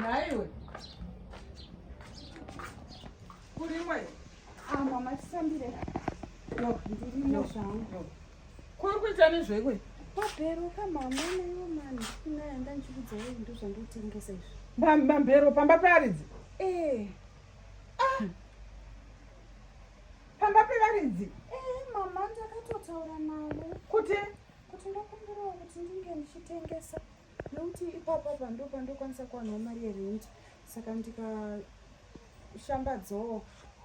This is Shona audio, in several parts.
nhaiwe kurimwe amba ah, matisambire no ndirimo zvangu kuri kuita nezvekwe wabheruka mama naiwo mani inaya ndanchikudzai ndo zvandotengesa izvi mambhero pamba pearidzi ee eh. ah. pamba pevaridzi eh, mama ndakatotaura navo kuti kuti ndokumbirawo kuti ndinge ndichitengesa nekuti ipapa pando pandokwanisa kuwanawo mari yerenti saka ndikashambadzawo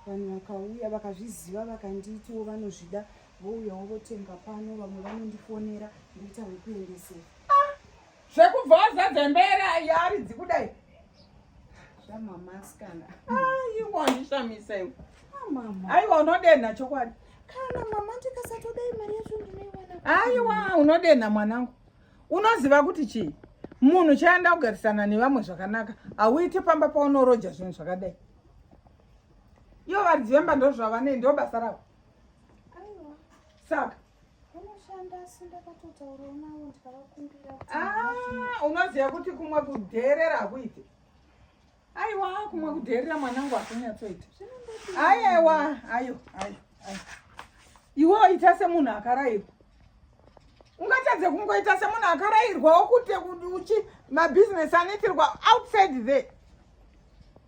vanhu vakauya vakazviziva vakanditiwo vanozvida vouyawo votenga pano vamwe vanondifonera ndoita wekuendesera zvekubva wazadza imba yaridzi kudai zvamamaskana aiwa wandishamisa iwe aiwa unodenha chokwadi kana mama ndikasatoda imari yacho ndinoiwana aiwa unodenha mwanangu unoziva kuti chii munhu chaenda kugarisana nevamwe zvakanaka hauite pamba paunoroja zvinhu zvakadai iyo varidzi vemba ndozvavanei ndobasa ravo saka Unoshanda asi ndakatotaurawo navo ndikavakumbira. Ah, unoziva kuti kumwe kudheerera hakuite. Aiwa, kumwe kudheerera mwanangu hakunyatsoita. Aiwa, ayo, ayo, ayo. Iwe ita semunhu akarairwa. Ungatadze kungoita semunhu akarairwa wokuti uchi mabusiness anoitirwa outside there.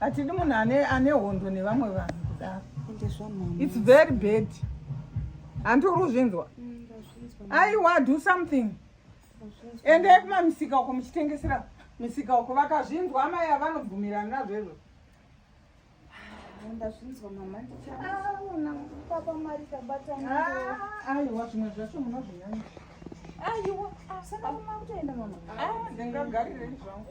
hatidi munhu ane ane hondo nevamwe vanhu kudaro its very bad hanti uri kuzvinzwa mm, aiwa do something endai kumamisika uko muchitengesera misika uko vakazvinzwa amai avanobvumirana nazvo izvo ndazvinzwa mama ndichaona papa mari tabata aiwa zvimwe zvacho munozvinyanya aiwa asana kuma kutoenda mama ndingagarire izvangu